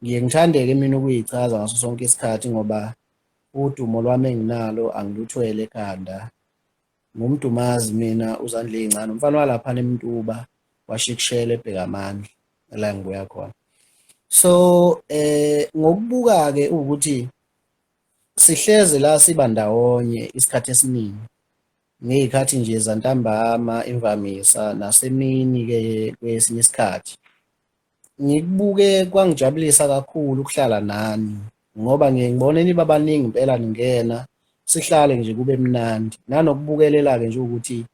ngiye ngithandeke mina ukuyichaza ngaso sonke isikhathi ngoba udumo lwami enginalo angiluthwele ekhanda ngumdumazi mina uzandla ezincane umfana walapha nemntuba washikushela ebheka amandla la ngibuya khona so eh ngokubuka ke ukuthi sihleze la siba ndawonye isikhathi esiningi ngey'khathi nje zantambama imvamisa nasemini-ke kwesinye isikhathi ngikubuke kwangijabulisa kakhulu ukuhlala nani ngoba ngiye ngibone niba baningi impela ningena sihlale nje kube mnandi nanokubukelela-ke nje ukuthi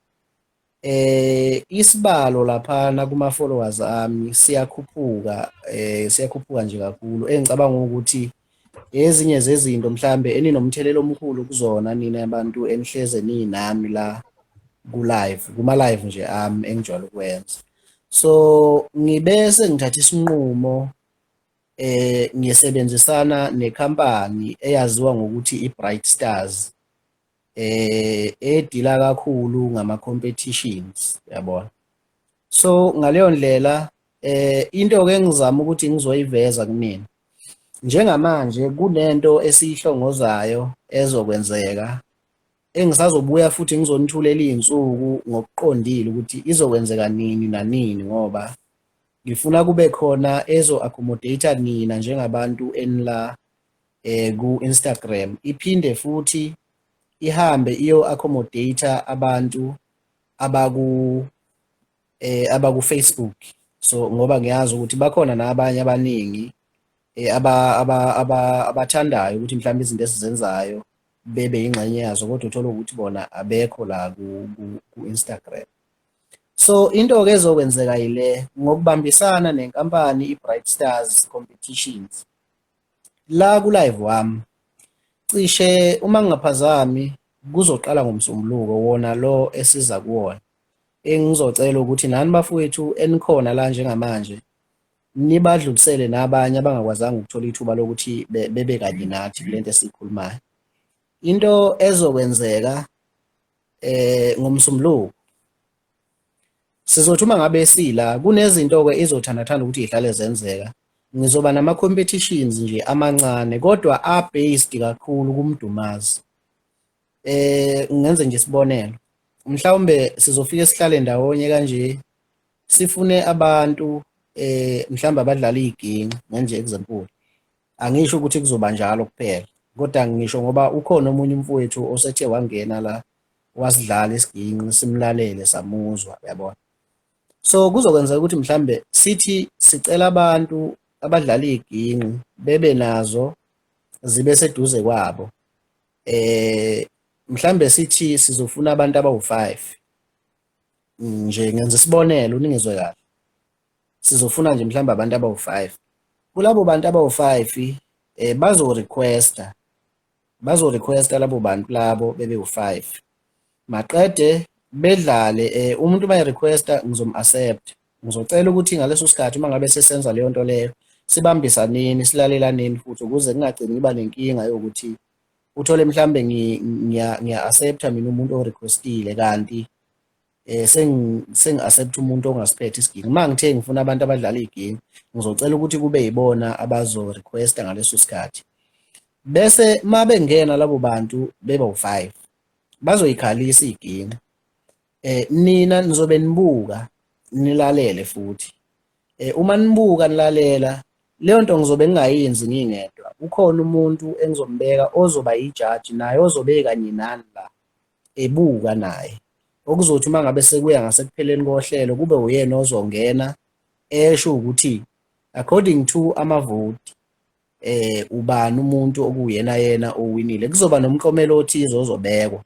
eh isibalo laphana kuma followers ami siyakhuphuka eh siyakhuphuka nje kakhulu engicabanga ukuthi ezinye zezinto mhlambe eninomthelela omkhulu kuzona nina abantu enihleze ninami la ku live kuma live nje ami engijwayele ukwenza so ngibese ngithatha isinqumo eh ngisebenzisana necompany eyaziwa ngokuthi iBright Stars eh edila kakhulu ngama competitions yabona so ngaleyo ndlela eh into ke engizama ukuthi ngizoyiveza kunina njengamanje kunento esiyihlongozayo ezokwenzeka engisazobuya futhi ngizonithulela izinsuku ngokuqondile ukuthi izokwenzeka nini nanini ngoba ngifuna kube khona ezo accommodate nina njengabantu enila eh ku Instagram iphinde futhi ihambe iyo accommodate abantu abaku eh abaku Facebook so ngoba ngiyazi ukuthi bakhona nabanye abaningi eh aba abathandayo ukuthi mhlawumbe izinto esizenzayo bebe ingxenye yazo kodwa uthola ukuthi bona abekho la ku, ku, ku Instagram so into ke ezokwenzeka yile ngokubambisana nenkampani iBright Stars Competitions la ku live wami cishe uma ngingaphazami kuzoqala ngomsombuluko wona lo esiza kuwona engizocela ukuthi nani bafowethu enikhona la njengamanje nibadlulisele nabanye abangakwazanga ukuthola ithuba lokuthi bebe kanye nathi kulento esikhulumayo into ezokwenzeka eh ngomsombuluko Sizothi uma ngabe sila kunezinto-ke izothandathanda ukuthi yihlale zenzeka. Ngizoba nama-competitions nje amancane kodwa a-based kakhulu kumdumazi. Eh ngenze nje isibonelo. Mhlawumbe sizofike sihlale ndawonye kanje sifune abantu eh mhlawumbe abadlala iginci ngenje example. Angisho ukuthi kuzoba njalo kuphela. Kodwa ngisho ngoba ukhona omunye umfowethu osethe wangena la wasidlala isiginci simlalele samuzwa uyabona so kuzokwenzeka ukuthi mhlambe sithi sicela abantu abadlala iginci bebe nazo zibe seduze kwabo eh mhlambe sithi sizofuna abantu abawu5 nje ngenza isibonelo uningizwe kahle sizofuna nje mhlawumbe abantu abawu-five kulabo bantu abawu-five eh bazo-requesta bazorequesta labo bantu labo bebe u-five maqede bedlale um umuntu uma erequesta ngizom-accept ngizocela ukuthi ngaleso sikhathi uma ngabe sesenza leyo nto leyo sibambisaneni silalelaneni futhi ukuze kungagcini kuba nenkinga yokuthi uthole mhlambe ngiya-accepta mina umuntu orequestile kanti eh sengi accept umuntu ongasiphethe isigingi uma ngithe ngifuna abantu abadlala igingi ngizocela ukuthi kube yibona abazo requesta ngaleso sikhathi bese uma bengena labo bantu beba u5 bazoyikhalisa igingi eh nina nizobe nibuka nilalele futhi eh uma nibuka nilalela leyo nto ngizobe ngingayenzi ngingedwa ukhona umuntu engizombeka ozoba yijaji naye ozobe kanye nani la ebuka naye okuzothi uma ngabe sekuya ngasekupheleni kohlelo kube uyena ozongena esho ukuthi according to amavoti eh ubani umuntu okuyena yena owinile kuzoba nomklomelo othize ozobekwa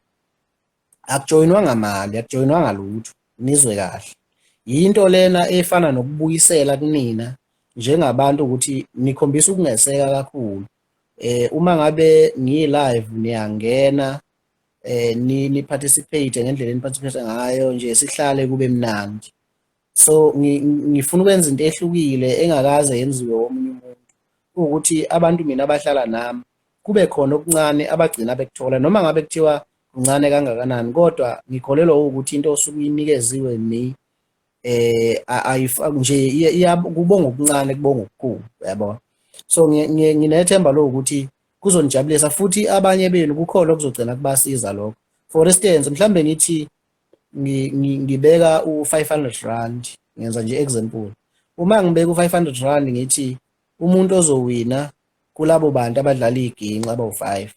akujoyinwa ngamali akujoyinwa ngalutho nizwe kahle yinto lena efana nokubuyisela kunina njengabantu ukuthi nikhombisa ukungeseka kakhulu eh uma ngabe ngiyilive niyangena eh ni ni participate ngendlela ni participate ngayo nje sihlale kube mnandi so ngifuna ukwenza into ehlukile engakaze yenziwe omunye umuntu ukuthi abantu mina abahlala nami kube khona okuncane abagcina bekuthola noma ngabe kuthiwa kuncane kangakanani kodwa ngikholelwa ukuthi into osuke inikeziwe mi eh ayifaki nje kubonga okuncane kubonga okukhulu uyabona so nginethemba lokuthi kuzonijabulisa futhi abanye benu kukhona okuzogcina kubasiza lokho for instance mhlambe ngithi ngibeka u500 rand ngenza nje example uma ngibeka u500 rand ngithi umuntu ozowina kulabo bantu abadlala iginxa abawu5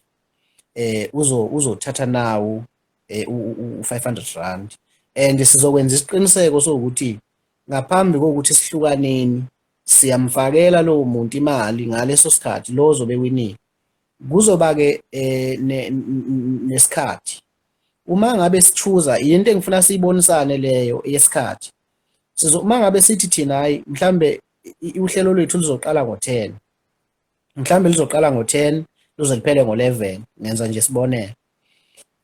eh uzo uzothatha nawo eh, u500 rand and sizokwenza isiqiniseko sokuthi ngaphambi kokuthi sihlukaneni siyamfakela lowo muntu imali ngaleso sikhathi lo ozobe winile kuzoba-ke um eh, nesikhathi uma ngabe sichuza yinto engifuna siyibonisane leyo yesikhathi sizo uma ngabe sithi thina hayi mhlambe uhlelo lwethu luzoqala ngo-10 mhlambe lizoqala ngo-10 luze liphele ngo-11 ngenza nje sibonele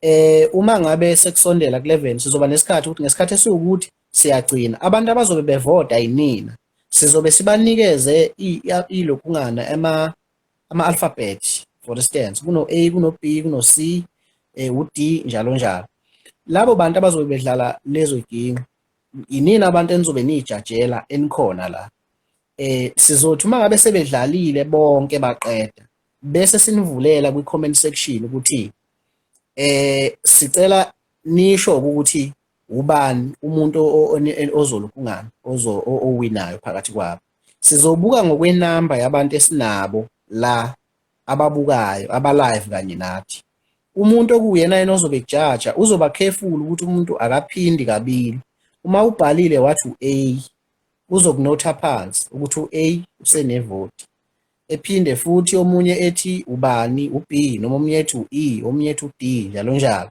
eh uma ngabe sekusondela ku-11 sizoba nesikhathi ukuthi ngesikhathi esiwukuthi siyagcina abantu abazobe bevota yinina sizobe sibanikeze ilokungana ama ama-alphabet for instance kuno-a kuno-b kuno-c eh, u-d njalo njalo labo bantu abazobe bedlala lezo yigingqi yinini abantu enizobe niyijajela enikhona la eh sizothi uma ngabe sebedlalile bonke baqeda bese sinivulela kwi-comment section ukuthi eh sicela nisho ukuthi ubani umuntu ozolokhu ungani owinayo phakathi kwabo sizobuka ngokwenamba yabantu esinabo la ababukayo abalive kanye nathi umuntu okuwuyena yena ozobe kujaja uzoba careful ukuthi umuntu akaphindi kabili uma ubhalile wathi u-a uzokunotha phansi ukuthi u-a usenevoti ephinde futhi omunye ethi ubani u-B noma omunye ethi u-E omunye ethi u-D njalo njalo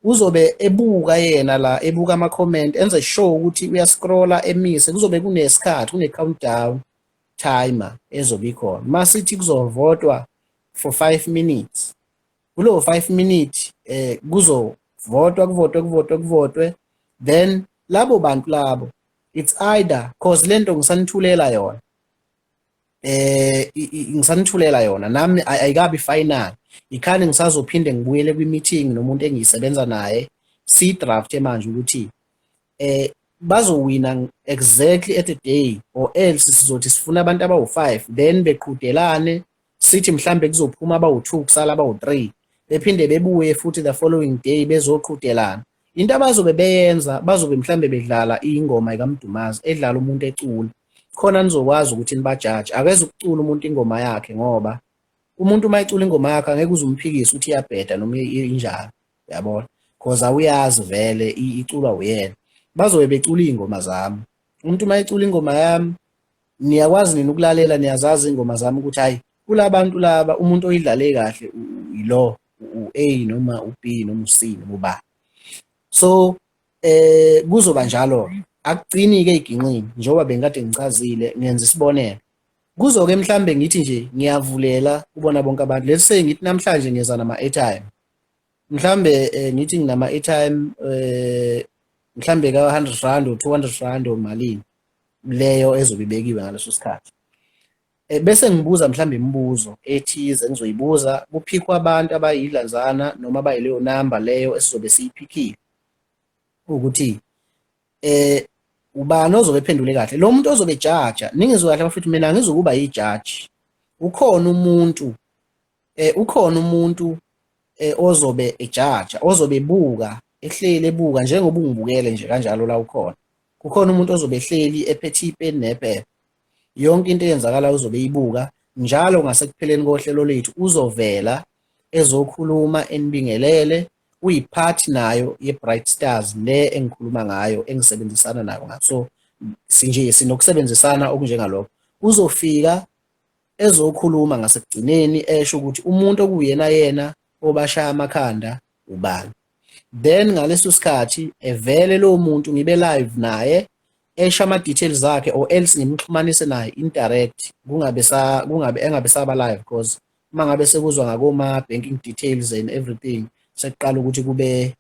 uzobe ebuka yena la ebuka ama-comment enze sure ukuthi uyascrolla emise kuzobe kunesikhathi kune-countdown timer ezobe ikhona uma sithi kuzovotwa for five minutes kulowo five minute eh kuzovotwa kuvotwe kuvotwe kuvotwe then labo bantu labo it's either cause lento ngisanithulela yona eh ngisanithulela yona nami ayikabi final ikhani ngisazophinde ngibuyele kwi-meeting nomuntu engiyisebenza naye si-draft manje ukuthi eh bazowina exactly at a day or else sizothi sifuna abantu abawu-5 then beqhudelane sithi mhlambe kuzophuma abawu-2 kusala abawu-3 bephinde bebuye futhi the following day bezoqhudelana into abazobe beyenza bazobe mhlambe bedlala ingoma ikaMdumazi edlala umuntu ecula khona nizokwazi ukuthi nibajaji akeze ukucula umuntu ingoma yakhe ngoba umuntu uma ecula ingoma yakhe angeke uzumphikise ukuthi iyabheda noma injalo yabona because awuyazi vele iculwa uyena bazobe becula iy'ngoma zami umuntu uma ecula ingoma yami niyakwazi nini ukulalela niyazazi ingoma zami ukuthi hayi kulabantu laba umuntu oyidlale kahle yilo u-A noma u-B noma u-C noma uba so eh kuzoba njalo akugcini ke iginqini njengoba bengikade ngichazile ngenza isibonelo kuzoke mhlambe ngithi nje ngiyavulela kubona bonke abantu let's say ngithi namhlanje ngeza nama airtime mhlambe eh, ngithi nginama airtime eh mhlambe ka 100 rand or 200 rand or malini leyo ezobe ibekiwe ngaleso sikhathi eh, bese ngibuza mhlambe imibuzo ethize engizoyibuza kuphikwa abantu abayidlanzana noma abayileyo number leyo esizobe siyiphikile ukuthi eh ubani ozobe ephendule kahle lo muntu ozobe ejaja ningizwe kahle bafethu mina ngizokuba yijaji ukhona umuntu eh ukhona umuntu eh ozobe ejaja ozobe buka ehleli ebuka njengoba ungibukele nje kanjalo la ukhona kukhona umuntu ozobe ehleli ephethe ipeni nephepha yonke into eyenzakala uzobe ibuka njalo ngasekupheleni kohlelo lethu uzovela ezokhuluma enibingelele uyipart nayo ye-bright stars le engikhuluma ngayo engisebenzisana nayo ngaso sinje sinokusebenzisana okunjengalokho uzofika ezokhuluma ngasekugcineni esho ukuthi umuntu okuyena yena obashaya amakhanda ubani then ngaleso sikhathi evele lowo muntu ngibe live naye esho ama-details akhe or else ngimxhumanise naye indirect kungabe sa kungabe engabe saba live because uma ngabe sekuzwa ngakoma-banking details and everything sekuqala ukuthi kube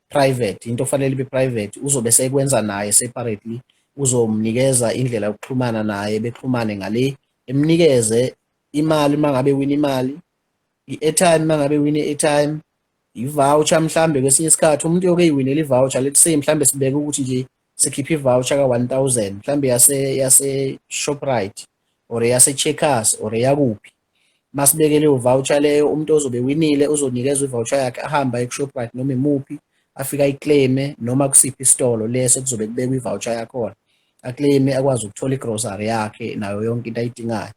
private into ofanele ibe private uzobe sekwenza naye separately uzomnikeza indlela yokuxhumana naye bexhumane ngale emnikeze imali mangabe wina imali i-airtime mangabe wina i-airtime i-voucher mhlambe kwesinye isikhathi umuntu yoke iwinela i-voucher let's say mhlambe sibeke ukuthi nje sikhiphe i-voucher ka-1000 mhlambe yase yase-shoprite or yase-checkers or yakuphi masibekele uvoucher leyo umuntu ozobe winile uzonikezwa ivoucher yakhe ahamba ekushoprite noma imuphi afike ayiclaime noma kusiphi isitolo leso kuzobe kubekwa ivoucher yakhona aclaime akwazi ukuthola igrocery yakhe nayo yonke into ayidingayo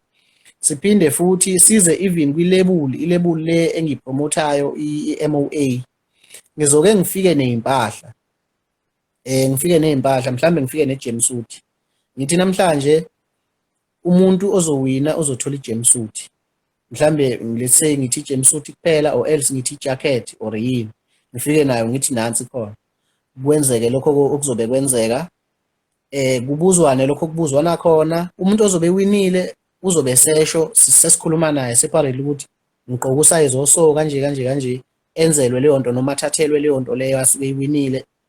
siphinde futhi size even kwilebuli ilebuli le engiyipromothayo i-MOA ngizoke ngifike nezimpahla eh ngifike nezimpahla mhlambe ngifike ne-jumpsuit ngithi namhlanje umuntu ozowina uzothola i-jumpsuit mhlambe let's say ngithi i-jumpsuit kuphela or else ngithi i-jacket or yini ngifike nayo ngithi nansi khona kwenzeke lokho okuzobe kwenzeka eh kubuzwane lokho kubuzwana khona umuntu ozobe winile uzobe sesho sesikhuluma naye separate ukuthi ngiqoka usayizi oso kanje kanje kanje enzelwe leyo nto noma athathelwe leyo nto leyo asuke iwinile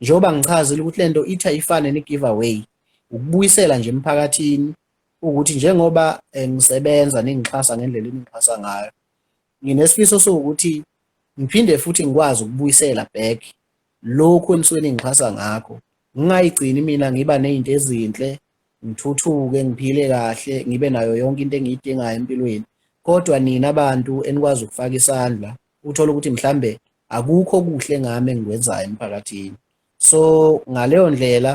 njengoba ngichazile ukuthi lento itha ifane ne giveaway ukubuyisela nje emphakathini ukuthi njengoba eh, ngisebenza ningixhasa ngendlela eningixhasa ngayo nginesifiso sokuthi ngiphinde futhi ngikwazi ukubuyisela back lokhu enisuke ningixhasa ngakho ngingayigcini mina ngiba nezinto ezinhle ngithuthuke ngiphile kahle ngibe nayo yonke into engiyidingayo empilweni kodwa nina abantu enikwazi ukufaka isandla uthole ukuthi mhlambe akukho okuhle ngami engikwenzayo emphakathini so ngaleyo ndlela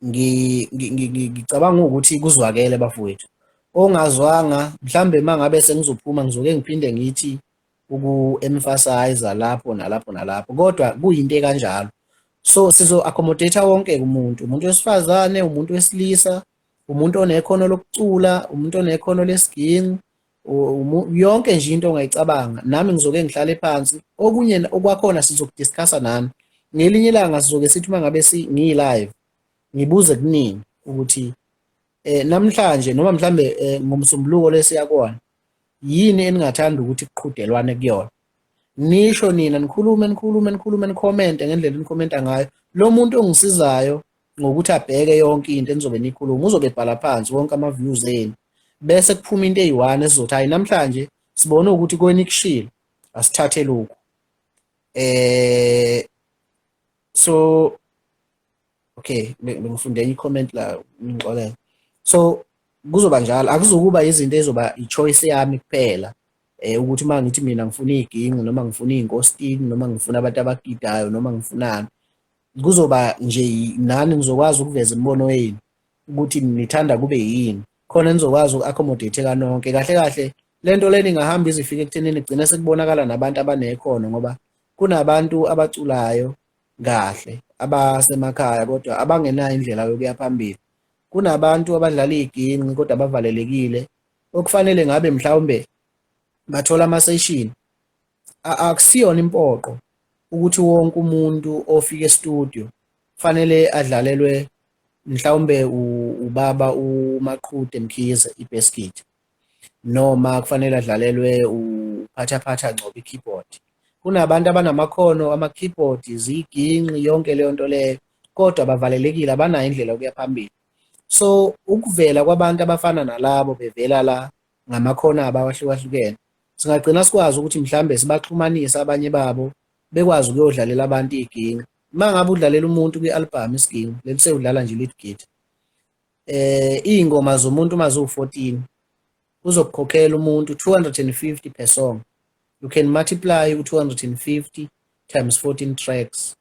ngicabanga ukuthi kuzwakele bafowethu ongazwanga mhlambe mangabe sengizophuma ngizoke ngiphinde ngithi uku-emphasize lapho nalapho nalapho kodwa kuyinto ekanjalo so sizo-accommodate wonke umuntu umuntu wesifazane umuntu wesilisa umuntu onekhono lokucula umuntu onekhono lesiginci yonke nje into ongayicabanga nami ngizoke ngihlale phansi okunye okwakhona sizokudiscussa nami ngelinye ilanga sizoke sithi uma ngabe ngiyilive ngibuze kuningi ukuthi eh namhlanje noma mhlambe eh, ngomsombuluko lesiya kona yini eningathanda ukuthi kuqhudelwane kuyona nisho nina nikhulume nikhulume nikhulume nicommente ngendlela enikhomenta ngayo lo muntu ongisizayo ngokuthi abheke yonke into enizobe nikhuluma uzobe ebhala phansi wonke ama-views enu bese kuphuma into eyi-one esizothi hhayi namhlanje sibone ukuthi kwenikushilo asithathe lokhu eh so okay bengifunde enye i-comment la ngixolela so kuzoba njalo akuzukuba izinto ezoba i-choice yami kuphela eh ukuthi uma ngithi mina ngifuna iginqu noma ngifuna inkositini noma ngifuna abantu abagidayo noma ngifunani kuzoba nje nani nizokwazi ukuveza imibono yenu ukuthi nithanda kube yini khona nizokwazi uku-accommodate kanonke kahle kahle le nto leni ingahamba izifika ekuthenini kugcine sekubonakala nabantu abanekhono ngoba kunabantu abaculayo kahle abasemakhaya kodwa abangenayo indlela yokuya phambili kunabantu abadlala iyiginci kodwa abavalelekile okufanele ngabe mhlawumbe bathola amaseshini akusiyona impoqo ukuthi wonke umuntu ofika e-studio fanele adlalelwe mhlawumbe ubaba uMaqhude Mkhize ibasket noma kufanele adlalelwe uphathaphatha Ngcobo i-keyboard kunabantu abanamakhono ama-keyboard ziyiginqi yonke leyo nto leyo kodwa bavalelekile abanayo indlela yokuya phambili so ukuvela kwabantu abafana nalabo bevela la ngamakhono abo awahlukahlukene. Singagcina sikwazi ukuthi mhlawumbe sibaxhumanise abanye babo bekwazi ukuyodlalela abantu iginci. Uma ngabe udlalela umuntu kwi-albhamu isiginci, leli sewudlala nje lead gate. Eh iy'ngoma zomuntu uma ziwu-14 uzokukhokhela umuntu 250 per song. You can multiply u-250 times 14 tracks.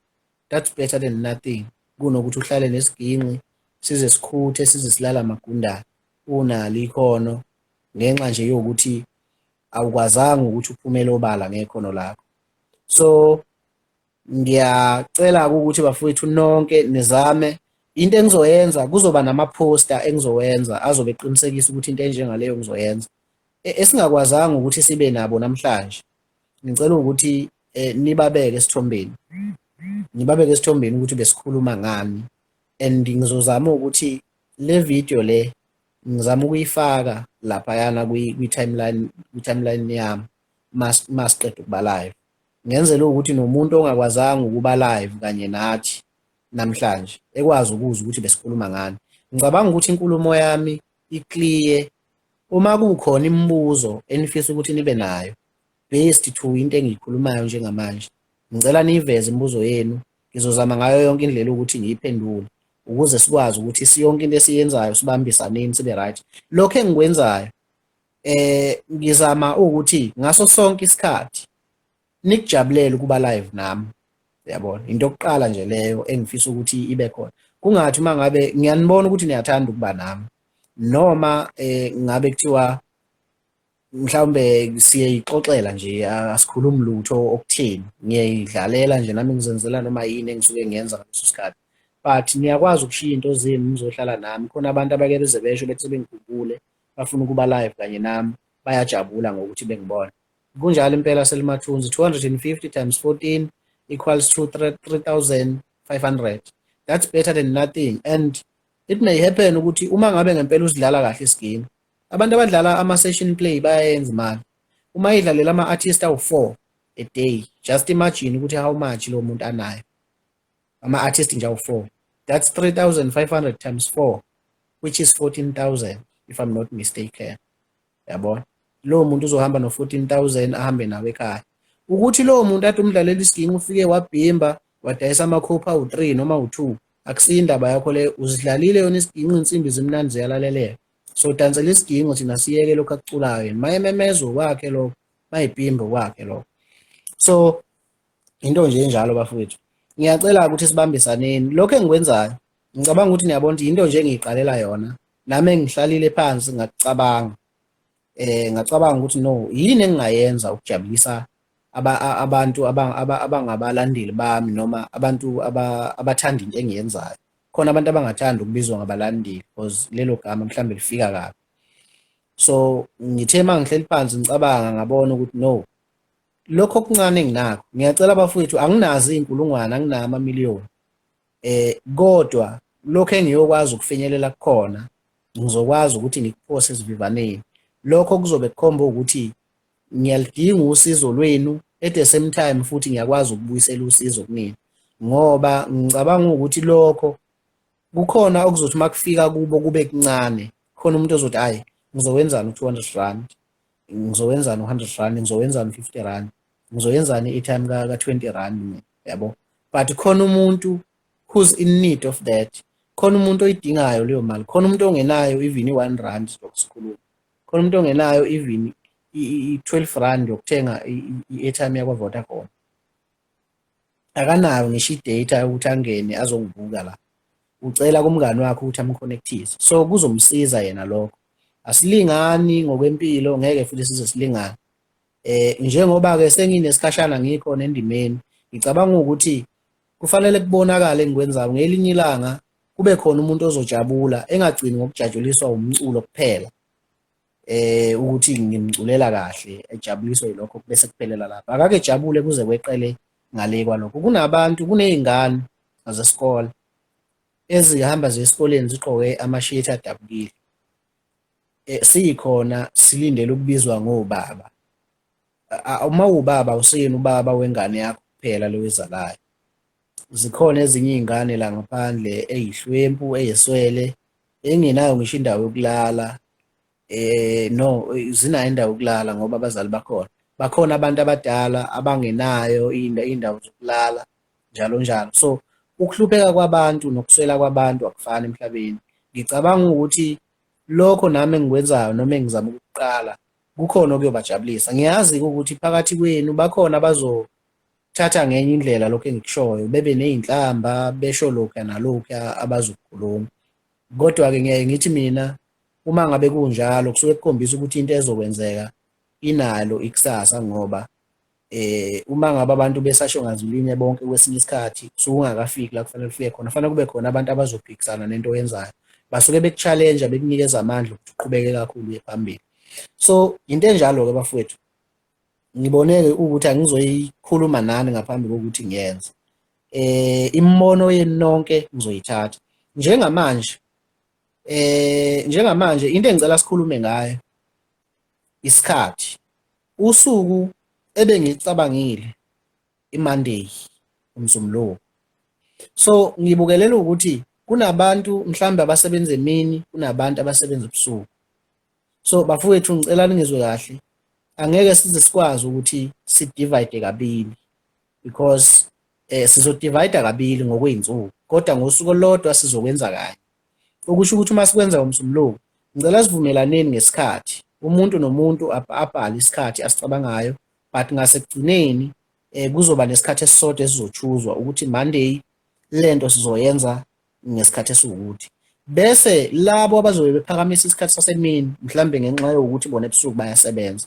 That's better than nothing kunokuthi uhlale nesiginci size sikhuthe size silala amagundane. unalo ikhono ngenxa nje yokuthi awukwazanga ukuthi uphumele obala ngekhono lakho so ngiyacela ukuthi bafowethu nonke nizame into engizoyenza kuzoba nama-poster engizowenza azobe eqinisekisa ukuthi into enjengaleyo ngizoyenza e, esingakwazanga ukuthi sibe nabo namhlanje ngicela ukuthi eh, nibabeke esithombeni ngibabeke esithombeni ukuthi besikhuluma ngani and ngizozama ukuthi le video le ngizama ukuyifaka laphayana kwi-timeline kwi-timeline yami masiqeda ukuba live ngenzela ukuthi nomuntu ongakwazanga ukuba live kanye nathi namhlanje ekwazi ukuzwa ukuthi besikhuluma ngani ngicabanga ukuthi inkulumo yami iclear uma kukhona imibuzo enifisa ukuthi nibe nayo based to into engiyikhulumayo njengamanje ngicela niyiveze imibuzo yenu ngizozama ngayo yonke indlela ukuthi ngiyiphendule ukuze sikwazi ukuthi siyonke into esiyenzayo sibambisaneni sibe right lokho engikwenzayo eh ngizama ukuthi ngaso sonke isikhathi nikujabulele ukuba live nami yabona into yokuqala nje leyo engifisa ukuthi ibe khona kungathi uma ngabe ngiyanibona ukuthi niyathanda ukuba nami noma eh ngabe kuthiwa mhlawumbe siyeyixoxela nje asikhulumi lutho okutheni ngiyayidlalela nje nami ngizenzela noma yini engisuke ngiyenza ngaleso sikhathi but niyakwazi ukushiya into zenu nizohlala nami khona abantu abake beze besho bethi sebengikhumbule bafuna ukuba live kanye nami bayajabula ngokuthi bengibona kunjalo impela selimathunzi 250 times 14 equals to 3500 that's better than nothing and it may happen ukuthi uma ngabe ngempela usidlala kahle isigame Abantu abadlala ama-session play bayayenza imali. Uma idlalela ama-artist awu-four a day, just imagine ukuthi how much lo muntu anayo. Ama-artist nje awu-four. That's 3,500 times four, which is 14,000 if I'm not mistaken. Yabona? Lowo muntu uzohamba no-14,000 ahambe nawe ekhaya. Ukuthi lowo muntu athi umdlalela isiginci ufike wabhimba wadayisa amakhopha awu-three noma awu-two akusiyo indaba yakho leyo uzidlalile yona isiginci insimbi zimnandi ziyalaleleka sodansela isigingo thina siyeke lokho akuculayo yena mayememezwa kwakhe lokho mayipimbo kwakhe lokho so into nje enjalo bafowethu ngiyacela ukuthi sibambisaneni lokho engikwenzayo ngicabanga ukuthi niyabona ukuthi into nje engiyiqalela yona nami engihlalile phansi ngakucabanga eh ngacabanga ukuthi no yini engingayenza ukujabulisa abantu abangabalandeli bami noma abantu abathanda into engiyenzayo khona abantu abangathanda ukubizwa ngabalandeli because lelo gama mhlawumbe lifika kabi so ngithe uma ngihleli phansi ngicabanga ngabona ukuthi no lokho okuncane enginakho ngiyacela abafowethu anginazi iy'nkulungwane anginama amamiliyoni eh kodwa lokho engiyokwazi ukufinyelela kukhona ngizokwazi ukuthi ngikuphose esivivaneni lokho kuzobe kukhomba ukuthi ngiyalidinga usizo lwenu at the same time futhi ngiyakwazi ukubuyisela usizo kunina ngoba ngicabanga ukuthi lokho kukhona okuzothi uma kufika kubo kube kuncane khona umuntu ozothi ayi ngizowenzani u-200 rand ngizowenzani u-100 rand ngizowenzani u-50 rand ngizoyenzani i-time ka-20 rand mina yabo but khona umuntu who's in need of that khona umuntu oyidingayo leyo mali khona umuntu ongenayo even i-one rand lokusikhuluma khona umuntu ongenayo even i-12 rand yokuthenga i-airtime yakwa-vodacom akanayo ngisho i-data yokuthi angene azongibuka la ucela kumngani wakhe ukuthi amconnectise so kuzomsiza yena lokho asilingani ngokwempilo ngeke futhi size silingane eh njengoba-ke senginesikhashana ngikho nendimeni ngicabanga ukuthi kufanele kubonakale engikwenzayo ngelinye ilanga kube khona umuntu ozojabula engagcini ngokujatshuliswa umculo kuphela eh ukuthi ngimculela kahle ejabuliswe yilokho bese kuphelela lapha akake jabule kuze kweqele ngale kwalokho kunabantu kunezingane zesikole ezihamba zesikoleni ziqoke amashithi adabukile eh, sikhona silindele ukubizwa ngobaba uma ubaba useyena ubaba wengane yakho kuphela lewezalayo zikhona ezinye iy'ngane la ngaphandle eyihlwempu eyeswele engenayo ngisho indawo yokulala eh no zinayo indawo yokulala ngoba abazali bakhona bakhona abantu abadala abangenayo iy'ndawo zokulala njalo njalo so ukuhlupheka kwabantu nokuswela kwabantu akufani emhlabeni ngicabanga ukuthi lokho nami engikwenzayo noma engizama ukuqala kukhona okuyobajabulisa ngiyazi ukuthi phakathi kwenu bakhona abazo thatha ngenye indlela lokho engikushoyo bebe nezinhlamba besho lokho nalokho abazokukhuluma kodwa ke ngiyaye ngithi mina uma ngabe kunjalo kusuke kukhombisa ukuthi into ezokwenzeka inalo ikusasa ngoba eh uma ngabe abantu besasho ngazulinye bonke kwesinye isikhathi kusuke ungakafiki la kufanele ufike khona fanele kube khona abantu abazophikisana nento oyenzayo basuke bekuchallenge bekunikeza amandla ukuthi uqhubeke kakhulu uye phambili so into enjalo ke bafowethu ngiboneke ukuthi angizoyikhuluma nani ngaphambi kokuthi ngiyenze eh imibono yenu nonke ngizoyithatha njengamanje eh njengamanje into engicela sikhulume ngayo isikhathi usuku ebengicabangile imonday umzumlowo so ngibukelela ukuthi kunabantu mhlawumbe abasebenza emini kunabantu abasebenza ebusuku so bafowethu ngicela ningizwe kahle angeke size sikwazi ukuthi sidivide kabili because eh sizodivide kabili ngokweyinsuku kodwa ngosuku olodwa sizokwenza kanye okusho ukuthi uma sikwenza ngomsumlungu ngicela sivumelaneni ngesikhathi umuntu nomuntu abhale isikhathi asicabangayo but ngasekugcineni eh kuzoba nesikhathi esisodwa esizochuzwa ukuthi Monday lento sizoyenza ngesikhathi esiwukuthi bese labo abazobe bephakamisa isikhathi sasemini mhlambe ngenxa yokuthi bona ebusuku bayasebenza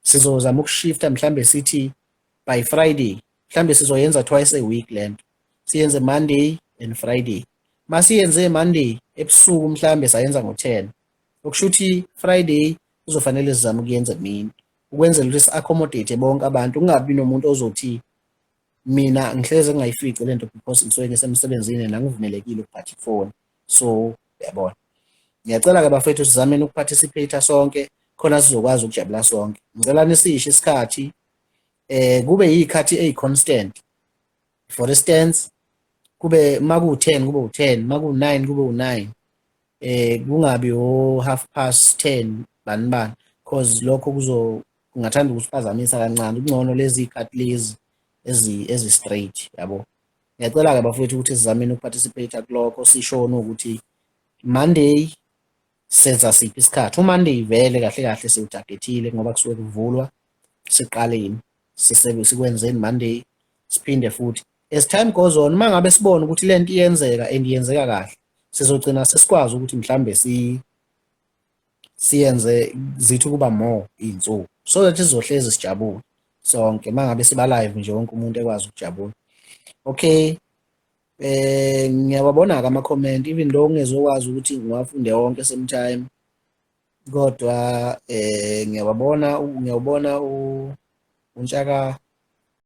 sizozama ukushifta mhlambe sithi by friday mhlambe sizoyenza twice a week lento siyenze monday and friday masiyenze monday ebusuku mhlambe sayenza ngo-10 okusho ukuthi friday kuzofanele sizame ukuyenza emini ukwenzela ukuthi si-accommodate bonke abantu kungabi nomuntu ozothi mina ngihlezi ngingayifici le nto because ngisuke ngisemsebenzini nangivumelekile ukuphatha ifoni so yabona ngiyacela-ke bafethu sizameni ukuparticipate sonke khona sizokwazi ukujabula sonke ngicela nisisho isikhathi eh kube yikhathi eyi-constant for instance kube uma kuwu-ten kube u-ten uma kuwu-nine kube u-nine eh kungabi o-half past ten bani bani because lokho kuzo kungathanda ukusiphazamisa kancane kungcono lezi ikati lezi ezi ezi straight yabo ngiyacela ke bafowethu ukuthi sizameni ukuparticipate kuloko sishona ukuthi Monday senza siphi isikhathi uMonday vele kahle kahle siwutargetile ngoba kusuke kuvulwa siqaleni sisebenze sikwenzeni Monday siphinde futhi as time goes on mangabe sibona ukuthi lento iyenzeka and iyenzeka kahle sizogcina sesikwazi ukuthi mhlambe si siyenze zithi ukuba more iy'nsuku so that sizohlezi sijabule sonke uma ngabe siba live nje wonke umuntu ekwazi ukujabula okay eh ngiyawabona-ke ama-comment even though ngingezokwazi ukuthi ngiwafunde wonke same time kodwa eh ngiyawabona ngiyawubona untshaka